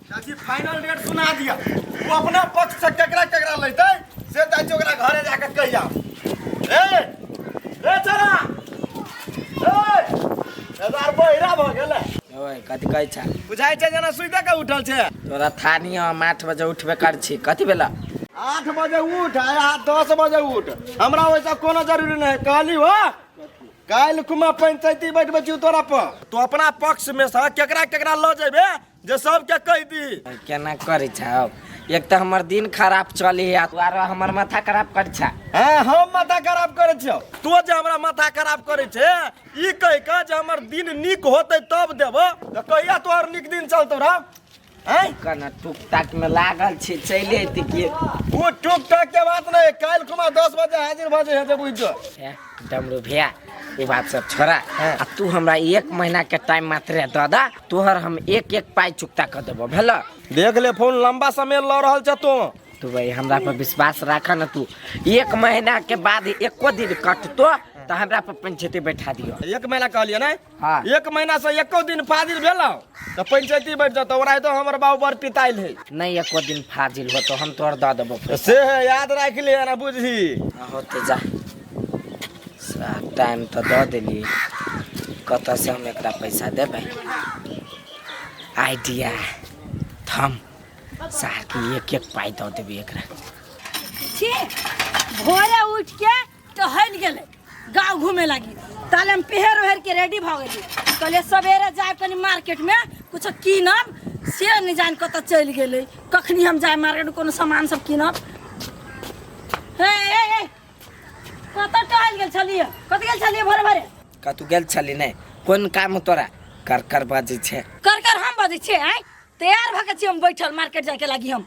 चाची final rate सुना दिया तू अपना पक्ष से केकरा केकरा लेते से चाची ओकरा घरे जाके कहि जा ए रे चला ए हजार बहिरा भ गेलै ओए कथी कहै छ बुझाइ छै जेना सुइते के उठल छै तोरा थानी हम आठ बजे उठबे कर छी कथी भेला आठ बजे उठ आ यहाँ दस बजे उठ हमरा वैसा कोनो जरूरी नहीं कहली हो काल्हि कुमा पंचायती बैठबे छी तोरा पर तो अपना पक्ष में से केकरा केकरा लऽ जेबे जे सबके कह दी केना करै छौ एक तऽ हमर दिन खराब चली है दुआरो हमर माथा खराब कर छा हां हम माथा खराब कर छौ तू जे हमरा माथा खराब कर छे ई कह के जे हमर दिन निक होते तब देब त कहिया तोहर निक दिन चलतो रा हैं कना टुक टाक में लागल छे चले त के ओ टुक टाक के बात नहीं काल कुमा 10 बजे हाजिर भजे है जे बुझ जो डमरू भैया वो बात सब छोड़ा हाँ। आ तू हमरा एक महीना के टाइम मात्र दऽ दा तोहर हम एक एक पाई चुकता कर देबो भेल देख ले फोन लंबा समय लऽ रहल छ तू तू भाई हमरा पर विश्वास राख न तू एक महीना के बाद एको दिन कटतो तो हमरा पर पंचायती बैठा दियो एक महीना कहलिए ना हाँ। एक महीना से एको दिन फाजिल भेलो तो पंचायती बैठ जातो ओरा तो हमर बाबू बर पिताइल है नहीं एको दिन फाजिल हो तो हम तोर द देबो तो से है याद राख ले ना बुझी होते जा साहब टाइम तो द देली कत से हम एकरा पैसा देबे आइडिया थम साहब के एक एक पाई द देबे एकरा छी भोरे उठ के टहल गेले गांव घूमे लगी ताले हम पहर ओहर के रेडी भ गेली कहले सवेरे जाए कनी मार्केट में कुछ कीनब से नहीं जान कत चल गेले कखनी हम जाए मार्केट में कोनो सामान सब कीनब हे हे हे कत टहल गेल छलिए कत गेल छलिए भरे भरे का तू गेल छली नहीं कोन काम हो तोरा कर कर बाजे छे कर कर हम बजे छे आय तैयार भके छी हम बैठल मार्केट जाए के लागी हम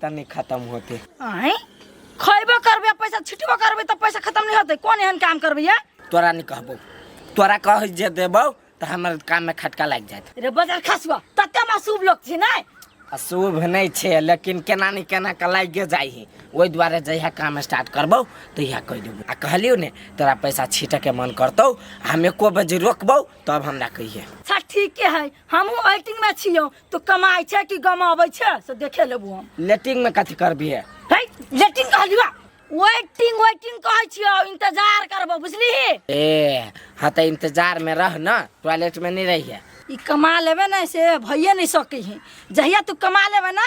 तनी खत्म होते अहे खैबो करबे पैसा छिटबो करबे तो पैसा खत्म नहीं होते कौन एहन काम करबे ये तोरा नहीं कहबो तोरा कह जे देबो तो हमर काम में खटका लग जात रे बजर खसबा तते में शुभ लोग छी नै आ शुभ नहीं छे लेकिन केना नहीं केना के लागे जाइ है ओहि दुआरे जहिया काम स्टार्ट करबो तहिया कह देबो आ कहलियो ने तोरा पैसा छीटे के मन करतौ आ हम एको बजे रोकबो तब हमरा कहिए सर ठीके है हमहू एक्टिंग में छियो तू कमाई छै कि गमाबै छै से देखे लेबू हम लेटिंग में कथी करबिए है लेटिंग कहली बा वेटिंग वेटिंग कहै छियो इंतजार करबो बुझली ए हाँ तो इंतजार में रह ना टॉयलेट में नहीं रहिए ई कमा लेबे ना से भइए नहीं सकै है जहिया तू कमा लेबे ना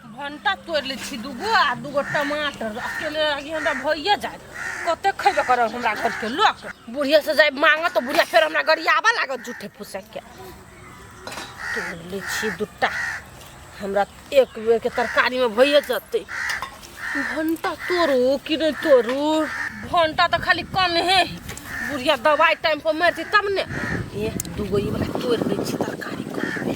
भंटा तोड़ि लै छी दूगो आ दूगो टमाटर अकेले आगे हमरा भइए जाए कते खैबे करब हमरा घरके लोक बुढ़िया से जाए मांगऽ तऽ बुढ़िया फेर हमरा गरियाबऽ लागत झूठे फुसैके तोड़ि लै छी दूटा हमरा एक बेरके तरकारीमे भइए जेतै भंटा तोड़ू कि नहि तोड़ू भंटा तऽ खाली कम हे बुढ़िया दवाइ टाइमपर मारतै तब ने ए दूगो ई वाला तोड़ि लै छी तरकारी करबै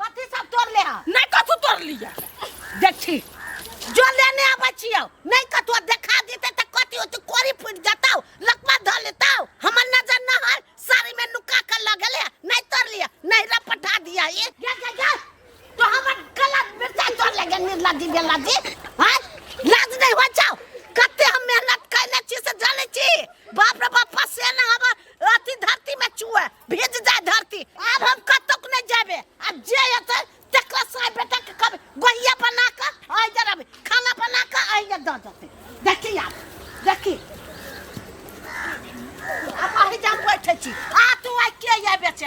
कथी सब तोड़ले ह नहीं कथू तोड़ लिया देखी जो लेने आबै छियो नहीं कथू देखा देते त कथी हो तू कोरी फूट जाता लकवा ध लेता हमर नजर न हर साड़ी में नुका कर लगले नहीं तोड़ लिया नहीं रा पठा दिया ये जा जा जा तो हमर गलत मिर्चा तोड़ लगे निर्ला दी बेला दी हां लाज नहीं हो जाओ कते हम मेहनत कैले छी से जाने छी बाप रे बाप फसे ना हमर अथी धरती में चुए भेज जाए धरती अब हम कतक नहीं जाबे अब जे एते तकरा साय बेटा के कब गोहिया बना के आइ जा रबे खाना बना के आइ जा द जते देखी आप देखी अब आइ जा बैठे छी आ तू आइ के या बेचे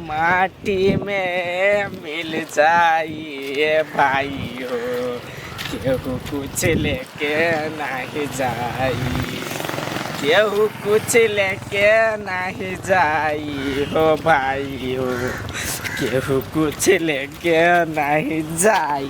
माटी मे मिल जाइए भाइ हो केहू कुछ ले के नहि जाइ केहू कुछ ले के नहि जाइ हो भाइ हो केहू कुछ ले के नहि जाइ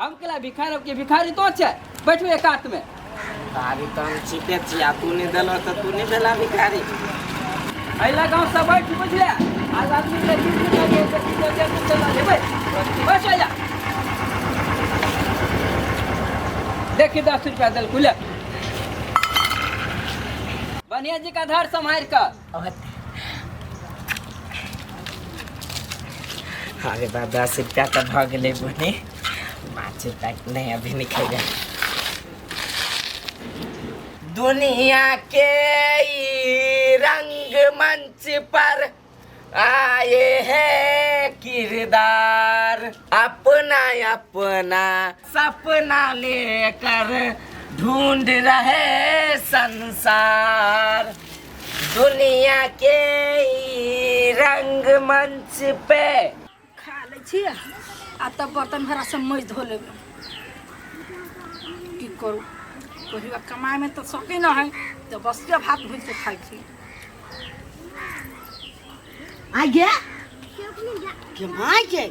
हम केला भिखारी के भिखारी तो छे बैठू एक हाथ में भिखारी तो हम ठीके छी आ तू नहीं देलो तो तू नहीं देला भिखारी अइला गांव से बैठ बुझले आज आदमी के बीच में लगे तो की तो के कुछ ना देबे बस आजा देखी दस रुपया दल कुले बनिया जी का धार संभाल कर अरे बा दस रुपया तऽ भऽ गेलै बने पाँच रुपया नहि अभी नहि खेबै दुनिया के ई रंग मंच पर आए है किरदार अपना अपना सपना लेकर ढूंढ रहे संसार दुनिया के ई रंग मंच पे खा लै छी आ तब बर्तन भरा सब मज धो लेब की करू पहिलुका कमाइमे तऽ सकै न है तऽ बसिया भात भूजि कऽ खाइ छी आगे मायके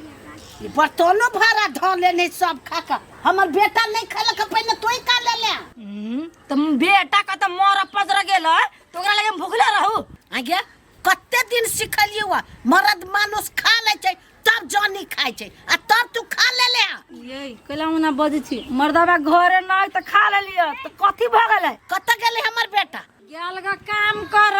ई बर्तनो भाड़ा धऽ लेने सब खा कऽ हमर बेटा नहि खेलक पहिने तोहि का ले ले हम्म, तो बेटा का तो मोर पजर गेल है, तो ओकरा लगे हम भूखले रहू आगे कते दिन सिखलियै हुआ मरद मानुस खा लै छै तब जानी खाइ छै आ तब तू खा ले ले ये कैला मुना बजै छी मर्दाबा घरे नहि तऽ खा लेलियै तऽ कथी भऽ गेलै कतऽ गेलै हमर बेटा गेल ग काम कर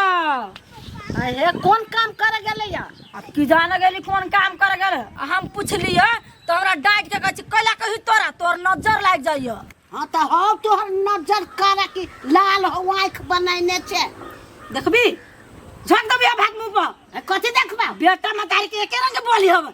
हे कोन काम कर गेले या आ की जान गेली कोन काम कर गेल आ हम पूछलिए तो हमरा डांट के कहै छी कैला कही तोरा तोर नजर लाग जाइए हाँ तो हो तोहर नजर कर की लाल हो आँख बनैने छे देखबी झक दबिया भाग मुंह पर कथी देखबा बेटा मतारी के एके रंग बोली हब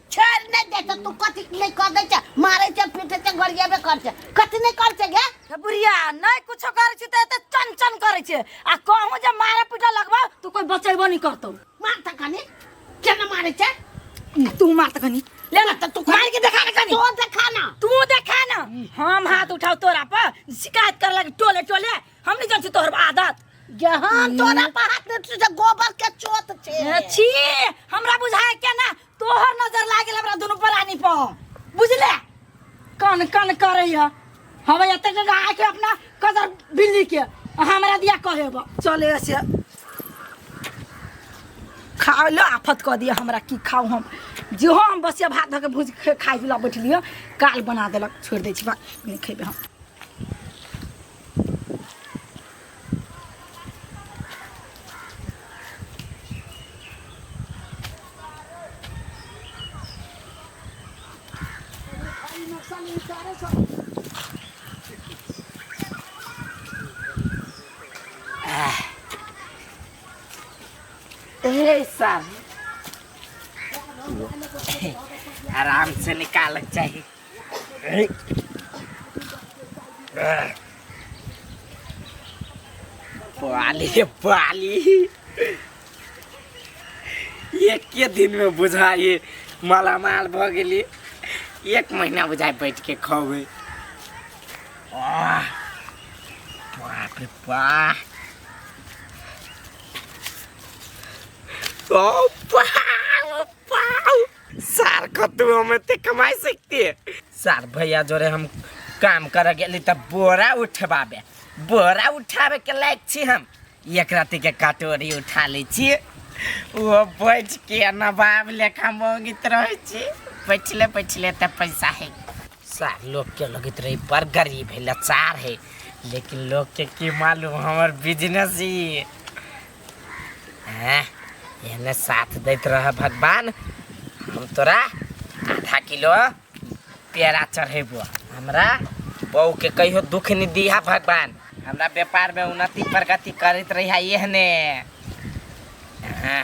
छोड़ नहीं देता तू कथी नहीं कर दे छ मारे छ पीटे छ गरिया बे कर छ कथी नहीं कर छ गे हे बुढ़िया नहीं कुछ करे छी ते चन चन करे छी आ कहूं जे मारा पीटा लगबा तू कोई बचैबो नहीं करतो मार त कनी केना मारे छ तू मार त कनी ले ना तू मार के देखा के कनी तो देखा ना तू देखा ना हम हाथ उठाओ तोरा पर शिकायत कर लगे टोले टोले हम नहीं जानते तोहर आदत जहां तोरा पर हाथ नहीं उठे गोबर के चोत छे छी हमरा बुझाए के ना तोहर नजर लाग गेल हमरा दुनू परानी पर बुझले कन कन करैया हवे एते के गाय के अपना कदर बिल्ली के आ हमरा दिया कहे बा चले से खा लो आफत कऽ दिया हमरा की खाऊ हम जो हम बसिया भात धऽ के भूज के खाइ पिला बैठलिए काल बना देलक छोड़ि दै छी बात नहि खेबै हम आराम से निकालक चाहिए पाली पाली एके दिन में बुझा ये मालामाल भ गेली एक महीना बुझाए बैठ के खबै आह, बाप रे बाप ओ बाप सार कतू हम एते कमाई सकती है सार भैया जोरे हम काम करे गेली त बोरा उठबाबे बोरा उठाबे के लायक छी हम एक राति के कटोरी उठा लै छी वो बैठ के नवाब लेखा मोंगित रहे छी बैठले बैठले त पैसा है सार लोग के लगत रही बड़ गरीब है लाचार है लेकिन लोग के की मालूम हमर बिजनेस ही हैं, एने साथ दैत रह भगवान हम तोरा आधा किलो पेड़ा चढ़ेबो हमरा बहू के कहियो दुख नहीं दिहा भगवान हमरा व्यापार में उन्नति प्रगति करत रही एहने हैं,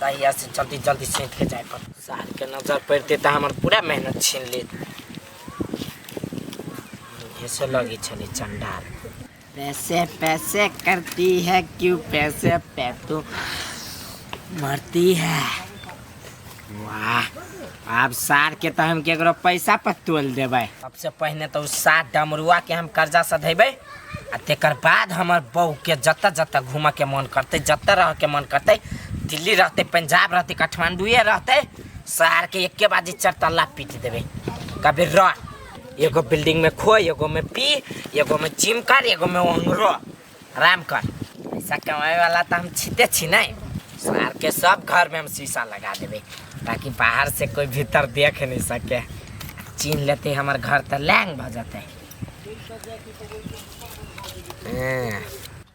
तहिया से जल्दी जल्दी सीख के जाए पर सार के नजर पड़ते तो हमार पूरा मेहनत छीन लेत मुँहे से लगी छले चंडाल पैसे पैसे करती है क्यों पैसे पे तो मरती है वाह आब सार के तो हम केकरो पैसा पर तोल देबै सबसे पहिने तो उस सार डमरुआ के हम कर्जा सधेबै आ तेकर बाद हमर बहू के जतऽ जतऽ घूमऽ के मन करतै जतऽ रह के मन करतै दिल्ली रहतै पंजाब रहतै काठमांडूए रहतै सार के एके बाजी चार तल्ला पीट देबै कभी रह एगो बिल्डिंग में खो एगो में पी एगो में जिम कर एगो में ओंगरो आराम कर पैसा कमाए वाला तो हम छीते छी नहीं सार के सब घर में हम शीशा लगा देवे ताकि बाहर से कोई भीतर देख नहीं सके चीन लेते हमार घर तो लैंग भ जाते हैं।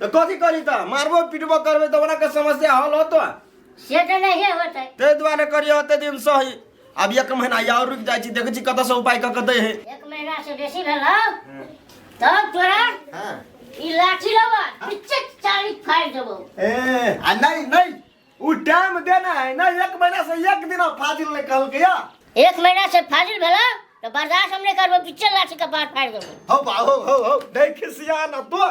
तो कथी करी तो मारबो पीटबो करबे तो ओकरा के समस्या हल होतो से तो नहीं होते ते द्वारे करियो होते दिन सही अब एक महीना या और रुक जाई छी देखै छी कत से उपाय क के दे है एक महीना से बेसी भेल तब तोरा हां ई लाठी लबा पीछे चाली फाड़ देबो ए आ नहीं नहीं उ टाइम देना है ना एक महीना से एक दिन फाजिल नहीं कहल के या एक महीना से फाजिल भेल तो बर्दाश्त हम नहीं करबो पीछे लाठी का पार फाड़ देबो हो बा हो हो हो नहीं खिसिया ना तो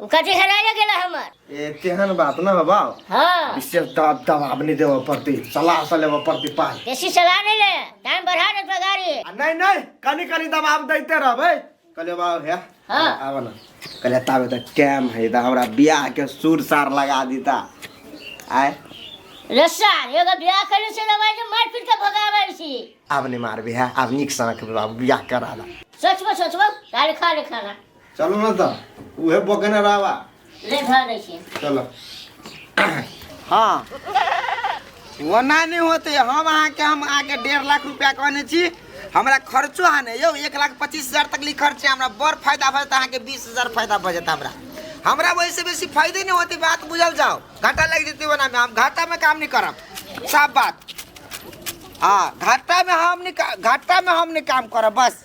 उ कथी हेराइए गेल हमर ए तेहन बात न हो बाप हाँ विशेष दबाब दबाब नहीं देवे पड़ती सलाह से लेवे पड़ती पास बेसी सलाह नहीं ले टाइम बढ़ा दे तो गाड़ी आ नहीं नहीं कनी कनी दबाब देते रहबे कहले बाप है हाँ। आब ना कहले ताबे तो टाइम है तो हमरा ब्याह के सुर सार लगा दीता आय रस्सा एगो ब्याह करे से लगा जे मार पीट के भगावे छी आब नहीं मारबे है आब निक सनक बाबू ब्याह करा ला सोचबो सोचबो तारे खा ले खाना चलो ना तो उहे बकने रहवा ले धर दै छी चलो हाँ वो ना नहीं होते हम अहाँ के हम अहाँ के डेढ़ लाख रुपया कहने छी हमरा खर्चो है ने यौ एक लाख पच्चीस हजार तक ली खर्च है हमरा बड़ फायदा भऽ जाता अहाँ के बीस हजार फायदा भऽ जाता हमरा हमरा वैसे बेसी फायदे नहीं होते बात बुझल जाओ घाटा लग जेते वना में हम घाटा में काम नहीं करब साफ बात हाँ घाटा में हम नहीं का- घाटा में हम नहीं काम करब बस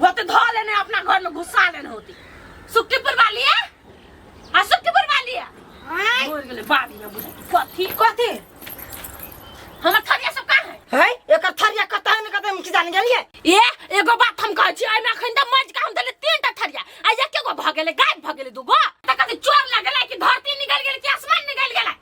वो तो धो लेने अपना घर में घुसा लेने होती सुक्कीपुर वाली है आ सुक्कीपुर वाली है आय, बोल गेले बाबी ना बुझे कथी कथी हमर थरिया सब का है है एकर थरिया कतह ने कतह की जान गेलिए ए एगो बात हम कहै छी एमे अखन त मज का हम देले तीन टा थरिया आ एके गो भ गेले गायब भ गेले दूगो त कथी चोर लगले कि धरती निकल गेले कि आसमान निकल गेले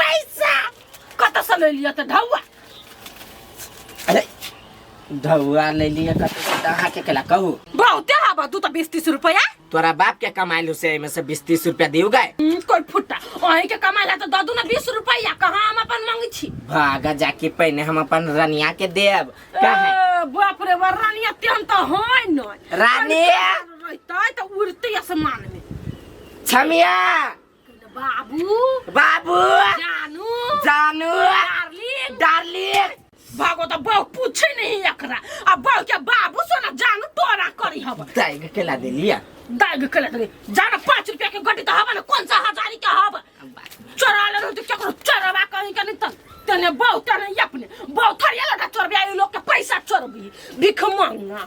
पैसा कत से ले लिया त ढौआ अरे धौआ ले लिए कतौ से दहा के केला कहू बहुते हवा तू तो बीस तीस रुपया तोरा बाप के कमाइल से एमे से बीस तीस रुपया दियो गए हम्म, कोई फुट्टा अही के कमाला तो ददू ना बीस रुपया कहाँ हम अपन मांगी छी भागा जाके पहने हम अपन रनिया के देब काहे ए, बाप रे बा रानी अत्यंत तो होय न रानी! रहते तो उड़ते आसमान में छमिया बाबू बाबू जानू जानू डार्लिंग डार्लिंग भागो तो बहु पूछे नहीं एकरा अब बहु के बाबू से ना जानू तोरा करी हब दाई के केला दे लिया दाग के लग रही जाना पाँच रुपया के गड्डी तो हवा ना कौन सा हजारी के हवा चोरा ले रहो तो क्या करो चोरवा कहीं का नहीं तन तने बहु तने अपने बहु थरिया लगा चोरबिया ये लोग के पैसा चोरबी भिख मांगा